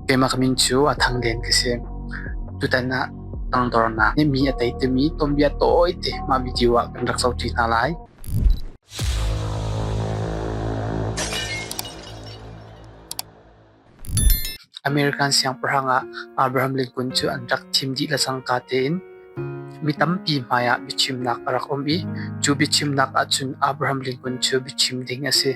Keimah ka min cu a Thang Den ka si. Tutan ah tangdornak nih mi a tei timi tuanbia tawite mah video ah kan rak zohṭi hna lai. American siangpahrang ah Abraham Lincoln cu an rak thim dih le cangka tein mi tampi hmaiah biachimnak a rak um i cu biachimnak ahcun Abraham Lincoln cu biachim ding a si.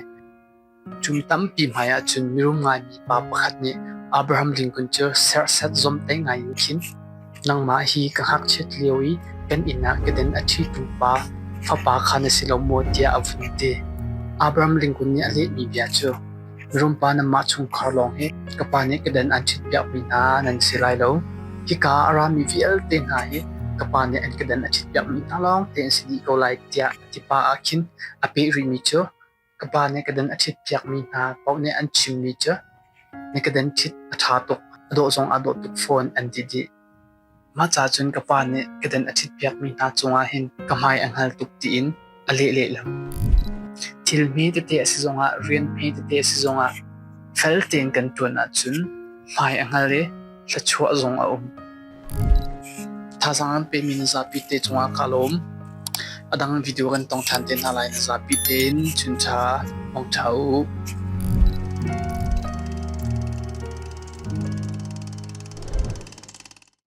Kum tampi hmai ahcun mirum ngaimi pa pakhat nih Abraham Lincoln cu serhsat zomhtaih ngai in khin nangmah hi ka ngakchiat lio i kan inn ah ka den a ṭhitu pa fapa kha na si lo maw tiah a vun ti. Abraham Lincoln nih a lehmi bia cu mirum pa nanmah chungkhar lawng hi ka pa nih ka den an ṭhitpiakmi hna nan si lai lo. Hika a rami vialte hna hi ka pa nih an ka den a ṭhitpiakmi hna lawng te an si dih ko lai tiah a ti pah ah khin a peh rihmi cu ka pa nih ka den a ṭhit piakmi hna paoh nih an chimmi cu na ka den ṭhit a ṭha tuk a dawh zong aa dawh tuk fawn an ti dih. Mah ca cun ka pa nih ka den a ṭhit piakmi hna cungah hin ka hmai a hngal tuk tiin a leh lehlam. Thil hme tete a si zongah, rian hme tete a si zongah fel tein kan ṭuan ahcun hmai a hngal i thluachuah zong a um. Thazaang an pemi na zapi te cungah kaa lawm. A dang video kan tong ṭhan te hna lai na zapi tein chuncha hmang ṭha u.